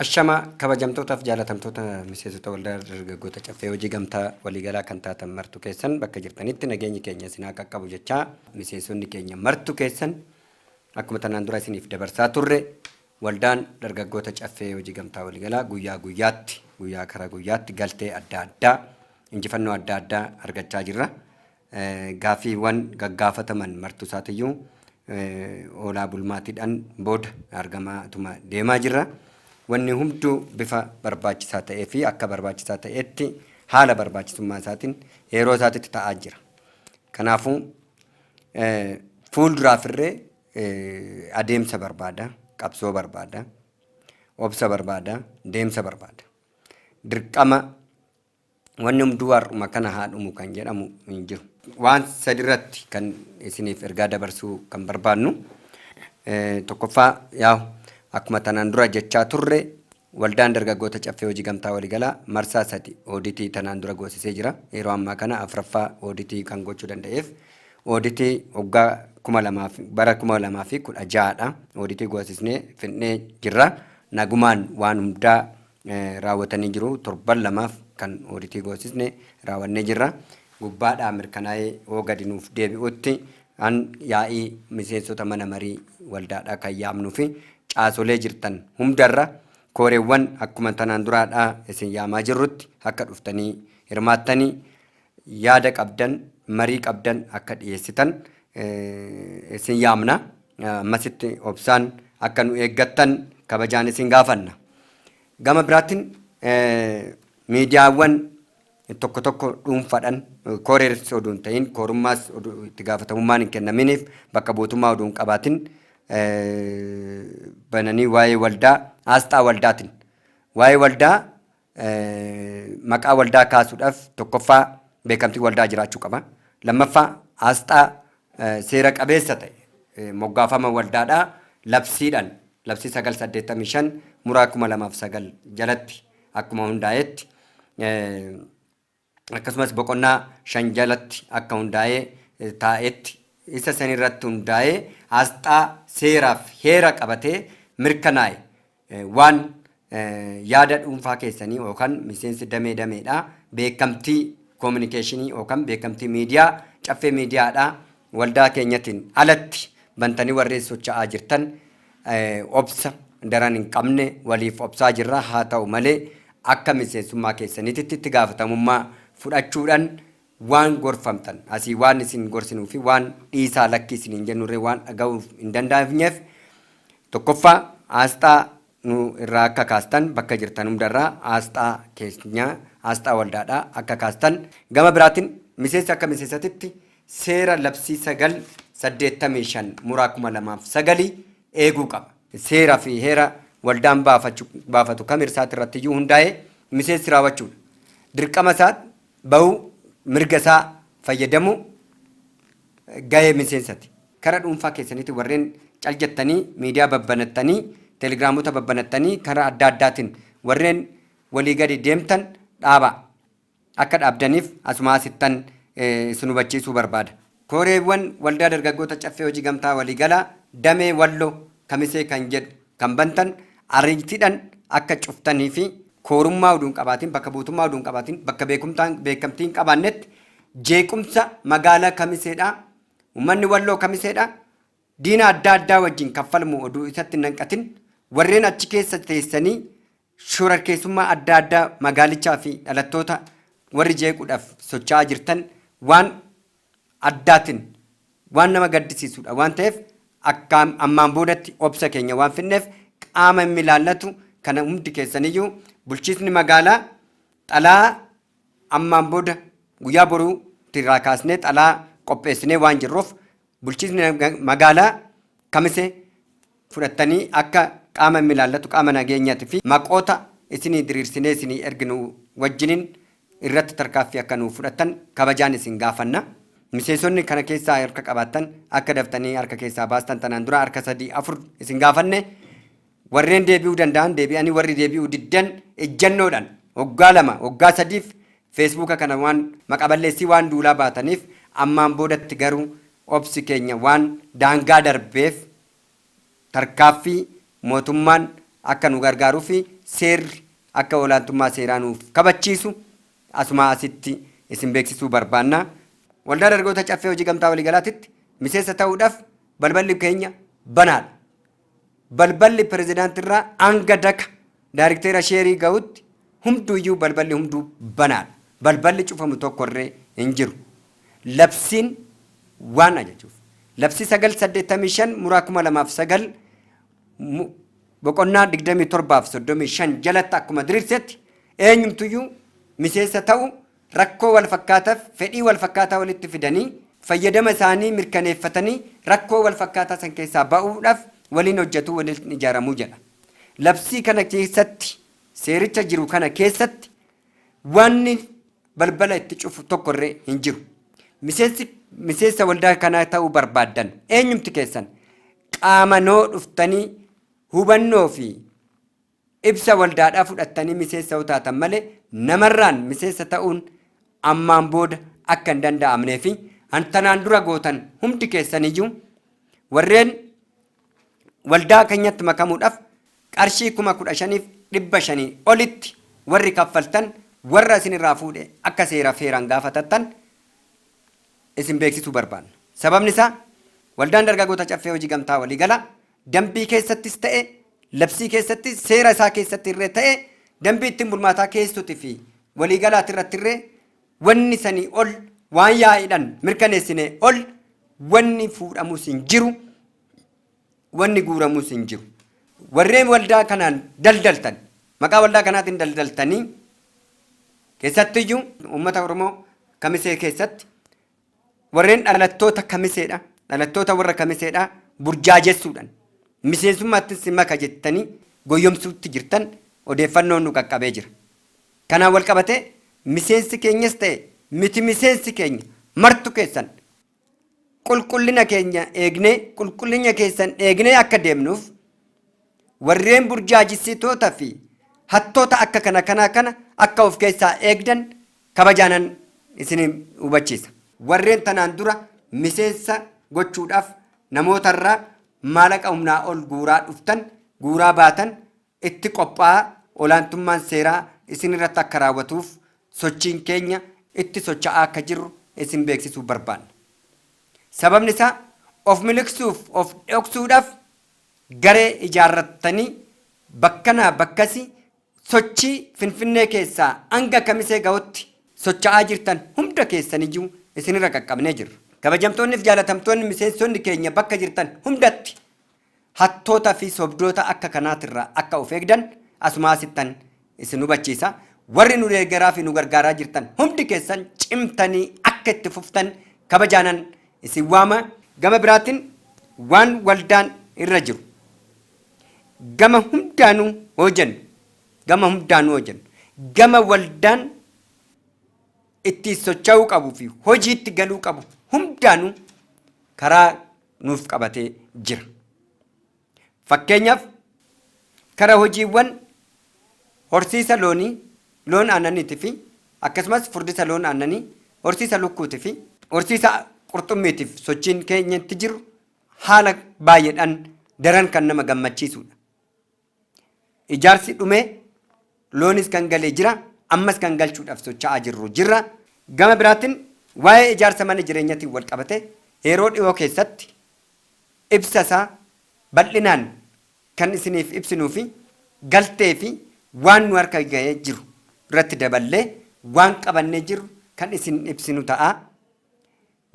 Ashama kabajamtootaaf jaalatamtoota miseensota waldaa dargaggoota caffee hojii gamtaa waliigalaa kan taatan martu keessan bakka jirtanitti nageenyi keenya isin haa qaqqabu jechaa miseensonni keenya martu keessan akkuma tanaan dura isiniif dabarsaa turre Waldaan Dargaggoota Caffee Hojii Gamtaa Waliigalaa guyyaa guyyaatti guyyaa kara guyyaatti galtee adda addaa injifannoo adda addaa argachaa jirra. Gaaffiiwwan gaggaafataman martuusaatiyyuu oolaa bulmaatiidhaan booda argamaatuma deemaa jirra. Wanni hunduu bifa barbaachisaa ta'ee fi akka barbaachisaa ta'etti haala barbaachisummaa isaatiin yeroo isaatitti ta'aa jira. Kanaafuu fuulduraafirree Adeemsa barbaada, qabsoo barbaada, obsa barbaada, deemsa barbaada. Dirqama wanni hunduu har'uma kana haa dhumu kan jedhamu hin jiru. Waan sadirratti kan isiniif ergaa dabarsuu kan barbaannu tokkoffaa yaa akkuma tanaan dura jechaa turre Waldaan Dargaggoota Caffee Hojii Gamtaa Waligalaa marsaa sadi ooditii tanaan dura goosisee jira. Yeroo ammaa kana afraffaa ooditii kan gochuu danda'eef ooditii waggaa 2000 fi bara 2016 dha. Ooditii goosisnee fidnee jirra. Nagumaan waan hundaa raawwatanii jiru. Torban lamaaf kan ooditii goosisne raawwannee jirra. Gubbaadhaa mirkanaa'ee hoo gadi nuuf deebi'utti An yaa'ii miseensota mana marii waldaadhaa kan yaamnuu fi caasolee jirtan hundarra kooreewwan akkuma tanaan duraadhaa isin yaamaa jirrutti akka dhuftanii hirmaattanii yaada qabdan marii qabdan akka dhiyeessitan isin yaamna. Ammasitti obsaan akka nu eeggattan kabajaan isin gaafanna. Gama biraatiin miidiyaawwan tokko tokko dhuunfaadhan kooreers oduu hin ta'iin koorummaas itti gaafatamummaan hin kennaminiif bakka buutummaa oduu hin qabaatin bananii waa'ee waldaa aasxaa waldaatin waa'ee waldaa maqaa waldaa kaasuudhaaf tokkoffaa beekamtii waldaa jiraachuu qaba. Lammaffaa aasxaa seera qabeessa ta'e moggaafama waldaadhaa labsiidhaan labsii 985 muraa 2009 jalatti akkuma hundaa'etti akkasumas boqonnaa shan jalatti akka hundaa'ee taa'etti isa san irratti hundaa'ee asxaa seeraaf heera qabatee mirkanaa'e waan yaada dhuunfaa keessanii yookaan miseensi damee dameedha beekamtii koominikeeshinii yookaan beekamtii miidiyaa caffee miidiyaadha Waldaa keenyatiin alatti bantanii warri socha'aa jirtan obsa daran hin qabne waliif obsaa jirra. Haa ta'u malee akka miseensummaa keessaniititti itti gaafatamummaa fudhachuudhan waan gorfamtan asii waan isin gorsinuu fi waan dhiisaa lakkii isiniin jennurree waan dhaga'uuf hin dandaa'ifneef tokkoffaa aasxaa nu irraa akka kaastan bakka jirtan hunda irraa aasxaa keenya aasxaa waldaadhaa akka kaastan gama biraatin miseensi akka miseesatitti seera labsii 9 85 muraa 2009 eeguu qaba. seera fi heera waldaan baafachu baafatu kam irsaati irratti iyyuu hundaa'ee miseensi raawwachuudha. Dirqama isaa bahuu mirga isaa fayyadamuu gahee miseensati. Kara dhuunfaa keessaniitiin warreen cal jettanii miidiyaa babbanattanii telegiraamota babbanattanii kara adda addaatiin warreen walii gadi deemtan dhaabaa. Akka dhaabdaniif asumaa asittan isin hubachiisuu barbaada. Kooreewwan Waldaa Dargaggoota Caffee Hojii Gamtaa Waliigalaa Damee Walloo Kamisee kan jedhu kan bantan ariitiidhan akka cuftanii fi koorummaa uduu hin qabaatiin, bakka buutummaa uduu hin qabaatiin, bakka beekumtaan beekamtii hin qabaannetti jeequmsa magaalaa Kamiseedhaa Ummanni Walloo Kamiseedha diina adda addaa wajjin kan falmu oduu isatti hin hanqatin warreen achi keessa teessanii shorarkeessummaa adda addaa magaalichaa fi dhalattoota warri jeequudhaaf socho'aa jirtan waan addaatiin waan nama gaddisiisudha waan ta'eef akka ammaan boodatti obsa keenya waan finneef qaama hin milaallatu kana hundi keessaniyyuu bulchiisni magaalaa xalaa Ammaan booda guyyaa boruu tti irraa kaasnee xalaa qopheessinee waan jirruuf bulchiisni magaalaa kamise fudhattanii akka qaama immi ilaallatu qaama nageenyati fi maqoota isinii diriirsinee isinii erginu wajjinin irratti tarkaaffii akka nuuf fudhattan kabajaan isin gaafanna. Miseesonni kana keessaa harka qabaattan akka daftanii harka keessaa baastan tanaan dura harka 3, 4 isin gaafanne Warreen deebi'uu danda'an deebi'anii warri deebi'uu diddan ejjannoodhan waggaa lama waggaa sadiif feesbuuka kana waan maqaballeessii waan duulaa baataniif ammaan boodatti garuu obsi keenya waan daangaa darbeef tarkaaffii mootummaan akka nu gargaaruufi seerri akka olaantummaa seeraa nuuf kabachiisu asumaa asitti isin beeksisuu barbaanna. Waldaa Dargaggoota Caffee Hojii Gamtaa Waliigalaatitti miseensa ta'uudhaf balballi keenya banaadha. Balballi pirezidaantii irraa hanga daka daarikteera sheerii gahutti hunduuyyuu balballi hunduu banaadha. Balballi cufamu tokko irree hin jiru. Labsiin waan ajajuuf. Labsii 9 85 muraa 2009 mu- boqonnaa 27 fi 35 jalatti akkuma diriirsetti eenyumtuyyuu miseensa ta'u rakkoo walfakkaataf fedhii walfakkaataa walitti fidanii fayyadama isaanii mirkaneeffatanii rakkoo walfakkaataa san keessaa ba'uudhaf waliin hojjatu, waliin ijaaramu jedha. Labsii kana keessatti, seericha jiru kana keessatti waanni balbala itti cufu tokko irree hin jiru. Miseensi miseensa waldaa kanaa ta'uu barbaaddan eenyumti keessan qaamanoo dhuftanii hubannoo fi Ibsa waldaadhaa fudhattanii miseensa yoo taatan malee namarraan miseensa ta'uun ammaan booda akka hin danda'amnee fi an tanaan dura gootan hundi keessaniyyuu warreen waldaa keenyatti makamuudhaaf qarshii kuma kudha shaniif dhibba shanii olitti warri kaffaltan warra isin irraa fuudhe akka seera feeraan gaafatattan isin beeksisuu barbaanna. Sababni isaa waldaan dargagoota caffee hojii gamtaa waliigala Dambii keessattis ta'e labsii keessatti seera isaa keessatti irree ta'e dambii ittiin bulmaataa keessuti fi waliigalaati irratti irree wanni sanii ol waan yaa'iidhan mirkaneessinee ol wanni fuudhamus hin jiru wanni guuramus hin jiru. Warreen waldaa kanaan daldaltan maqaa waldaa kanaatiin daldaltanii keessattiyyuu uummata Oromoo kamisee keessatti Warreen dhalattoota Kamiseedha, dhalattoota warra Kamiseedha burjaajessuudhan miseensummaattin si maka jettanii goyyomsuutti jirtan odeeffannoon nu qaqqabee jira. Kanaan wal qabatee miseensi keenyas ta'e miti miseensi keenya martu keessan qulqullina keenya eegnee qulqullinya keessan eegnee akka deemnuuf Warreen burjaajessitoota fi hattoota akka kana kanaa kana akka of keessaa eegdan kabajaanan isin hubachiisa. Warreen tanaan dura miseensa gochuudhaaf namoota irraa maalaqa humnaa ol guuraa dhuftan, guuraa baatan itti qophaa'aa olaantummaan seeraa isin irratti akka raawwatuuf sochiin keenya itti socha'aa akka jirru isin beeksisuu barbaanna. Sababni isaa of miliqsuuf of dhoksuudhaaf Garee ijaarrattanii bakkanaa bakkasi sochii Finfinnee keessaa hanga Kamisee gahutti socha'aa jirtan hunda keessaniyyuu isinirra qaqqabnee jirra. Kabajamtoonniif jaalatamtoonni miseensonni keenya bakka jirtan hundatti hattoota fi sobdoota akka kanaatirraa akka of eegdan asumaa asittan Isin hubachiisa, warri nu deeggaraa fi nu gargaaraa jirtan hundi keessan cimtanii akka itti fuftan kabajaanan isin waama. Gama biraatiin waan waldaan irra jiru gama hundaanuu hoojennu, gama hundaanuu hoojennu, gama waldaan itti socha'uu qabu fi hojiitti galuu qabu hundaanuu karaa nuuf qabatee jira. Fakkeenyaaf, kara hojiiwwan horsiisa loonii, loon aannaniiti fi akkasumas furdisa loon aannanii, horsiisa lukkuuti fi. horsiisa qurxummiitiif sochiin keenya itti jiru haala baay'eedhaan daran kan nama gammachiisuudha. Ijaarsi dhumee. Loonis kan gale jira, ammas kan galchuudhaf socha'aa jirru jirra. Gama biraatin waa'ee ijaarsa mana jireenyatin wal qabate yeroo dhihoo keessatti ibsa isaa bal'inaan kan isiniif ibsinuu fi galtee fi waan nu harka gahee jiru irratti daballee waan qabannee jirru kan isin ibsinu ta'a.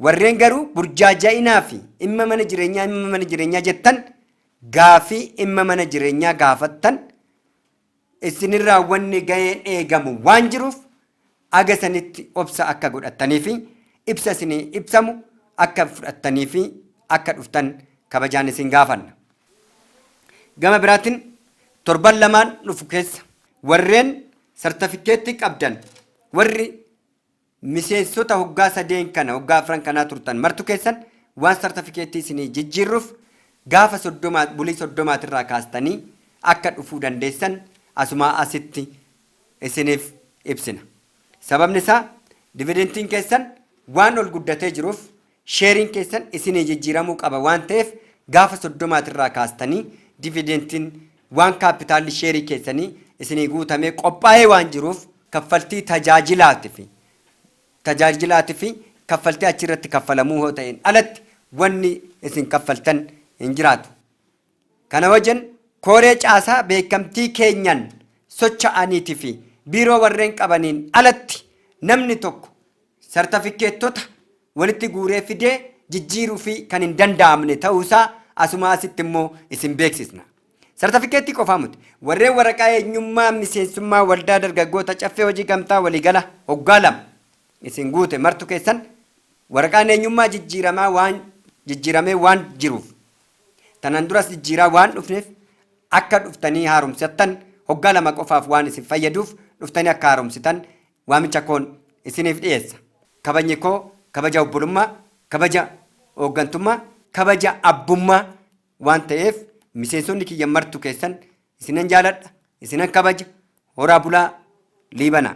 Warreen garuu burjaaja'inaa fi dhimma mana jireenyaa dhimma mana jireenyaa jettan gaafii dhimma mana jireenyaa gaafattan Isinirraa wanni gaheen eegamu waan jiruuf haga sanitti obsa akka godhattanii fi ibsa isinii ibsamu akka fudhattanii fi akka dhuftan kabajaan isin gaafanna. Gama biraatin torban lamaan dhufu keessa warreen sartafikkeettii qabdan warri Miseensota hoggaa sadeen kana hoggaa afran kanaa turtan martu keessan waan sartafikeettii isinii jijjiirruuf gaafa 30 bulii 30 tirraa kaastanii akka dhufuu dandeessan asumaa asitti isiniif ibsina. Sababni isaa dividentiin keessan waan ol guddatee jiruuf Sheeriin keessan isinii jijjiiramuu qaba waan ta'eef gaafa 30ti irraa kaastanii dividentiin waan kaappitaalli sheerii keessanii isinii guutamee qophaa'ee waan jiruuf kaffaltii tajaajilaati fi tajaajilaati fi kaffaltii achi irratti kaffalamuu yoo ta'een alatti wanni isin kaffaltan hin jiraatu. Kana wajjin Kooree Caasaa beekamtii keenyaan socha'aniiti fi Biiroo warreen qabaniin alatti namni tokko sartafikkeettota walitti guuree fidee jijjiiruufii kan hin danda'amne ta'uu isaa asuma asitti immoo isin beeksisna. Sartafikkeettii qofaa muti warreen waraqaa eenyummaa miseensummaa Waldaa Dargaggoota Caffee Hojii Gamtaa Waliigala hoggaa lama isin guute martu keessan waraqaan eenyummaa jijjiiramaa waan jijjiiramee waan jiruuf Tanaan duras jijjiiraa waan dhufneef akka dhuftanii haaromsattan hoggaa lama qofaaf waan isin fayyaduuf dhuftanii akka haaromsitan waamicha koon isiniif dhiyeessa. Kabajni koo kabaja obbolummaa, kabaja hooggantummaa, kabaja abbummaa waan ta'eef miseensonni kiyya martu keessan isinan jaaladha, isinan kabaja, horaa bulaa, liibanaa.